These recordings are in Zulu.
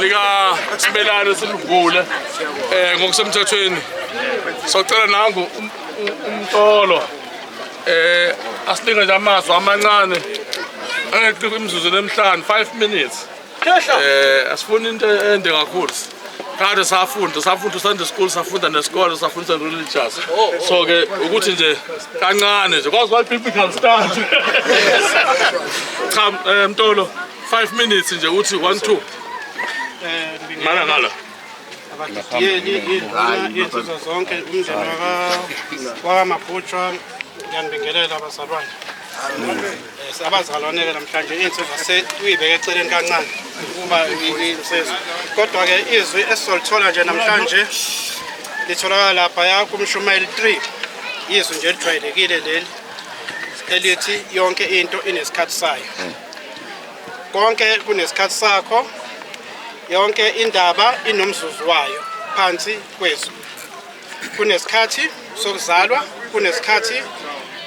likasibelane silivule um ngokusemthethweni socela nangu um, um, umtolo eh asilinge nje amazwi amancane angeqi imizuzu nemihlanu 5 minutes eh asifuni into ende kakhulu kade safunda safunda Sunday school safunda nesikole safunda religious so ke ukuthi nje kancane nje kwazi why biblical stand cha eh, mtolo 5 minutes nje uthi 1 2 mana ngala abagidiyeli iy'nzuzo zonke umndeni wakamabhutshwa ngiyanibingelela abazalwane eh, abazalwane-ke namhlanje iy'nsizwa seyibeke eceleni kancane ukuba insizwa kodwa-ke izwi esizolithola nje namhlanje litholakala laphaya kumshumayeli 3 izwi nje elijwayelekile leli elithi yonke into inesikhathi sayo konke kunesikhathi sakho yonke indaba inomzuzu wayo phansi kwezu kunesikhathi sokuzalwa kunesikhathi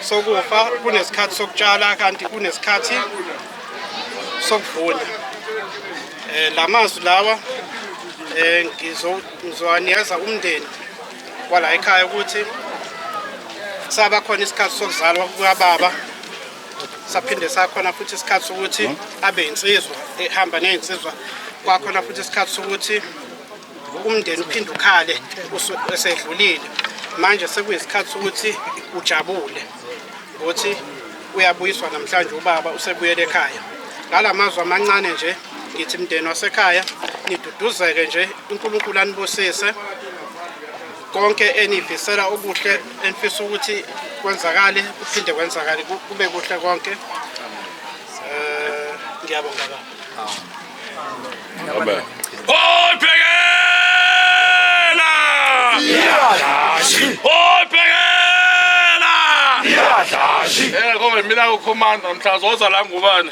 sokufa kunesikhathi sokutshala kanti kunesikhathi sokuvuna eh lamazwi lawa eh ngizowanikeza umndeni kwala ekhaya ukuthi saba khona isikhathi sokuzalwa kukababa saphinde sakhona futhi isikhathi sokuthi abe insizwa ehamba nezinsizwa kwakhona futhi isikhathi sokuthi umndeni uphinde ukhale esedlulile manje sekuyisikhathi sokuthi ujabule ukuthi uyabuyiswa namhlanje ubaba usebuyele ekhaya ngala mazwi amancane nje ngithi mndeni wasekhaya niduduzeke nje uNkulunkulu anibusise konke enifisela okuhle enifisa ukuthi kwenzakale kuphinde kwenzakale kube kuhle konke eh ngiyabonga baba Amen. Oyibhekela! Iyadlashi! Oyibhekela! Iyadlashi! Eh konke mina ukhomanda mhla zoza la ngubani?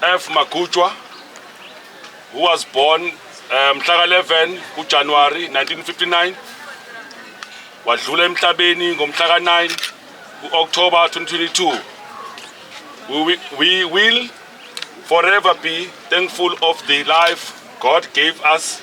F Magutshwa who was born eh, mhla ka 11 kuJanuary 1959 wadlula emhlabeni ngomhla ka 9 kuOctober 2022 we, we will forever be thankful of the life God gave us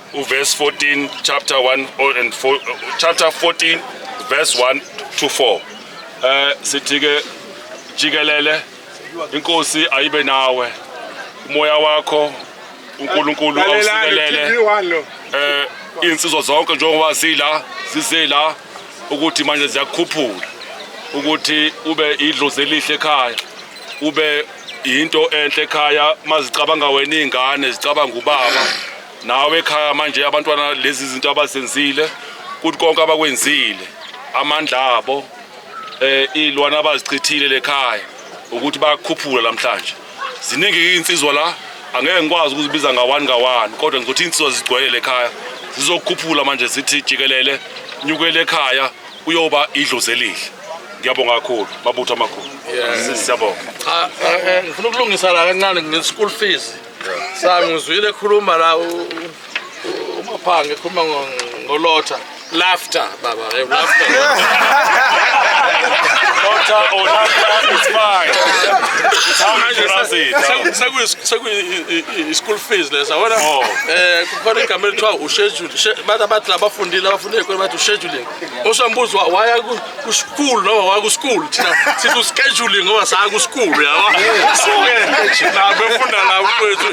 uverse 14 chapter 1 and 4, chapter 14 verse 1 to 4 uh, eh, sithi ke jikelele inkosi ayibe nawe umoya wakho uNkulunkulu awusikelele eh insizwa zonke njengoba sila sisela ukuthi manje ziyakukhuphula ukuthi ube idlozi elihle ekhaya ube into enhle ekhaya mazicabanga wena izingane zicabanga ubaba nawe ekhaya manje abantwana lezi zinto abazenzile kuthi konke abakwenzile amandla abo eh ilwana abazichithile lekhaya ukuthi bakhuphula namhlanje ziningi insizwa la angeke ngikwazi ukuzibiza ngawani ngawani kodwa ngizothi insizwa zigcwele lekhaya zizokhuphula manje zithi jikelele nyukele ekhaya uyoba idlozi elihle ngiyabonga kakhulu mabutho amakhulu siyabonga ngifuna ukulungisa la kancane nge-school fees Sami ngizwile ekhuluma la uMaphanga ekhuluma ngolotha laughter baba eh, laughter Lotha or laughter is fine. It's how you pronounce it. sekuyi-school fees lesa wona Oh. um kukhona igama elithiwa ushedule bathi abathi labafundile abafundile kweni bathi usheduling Osambuzo waya ku ku school no waya ku school thina sithi uscheduling ngoba saya ku school yabo. Suke na befunda la kwethu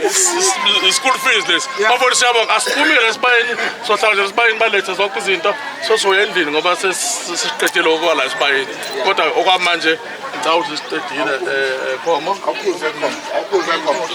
i- school fees lesi. Bafona siyabonga asiphumi ke sibayeni sohlala nje sibayeni balethe zonke izinto sosoya endlini ngoba ses- sesiqedile okwala sibayeni. Kodwa okwamanje ngicabanga ukuthi siqedile eh eh, khomo. Awukhuze khona, awukhuze khona.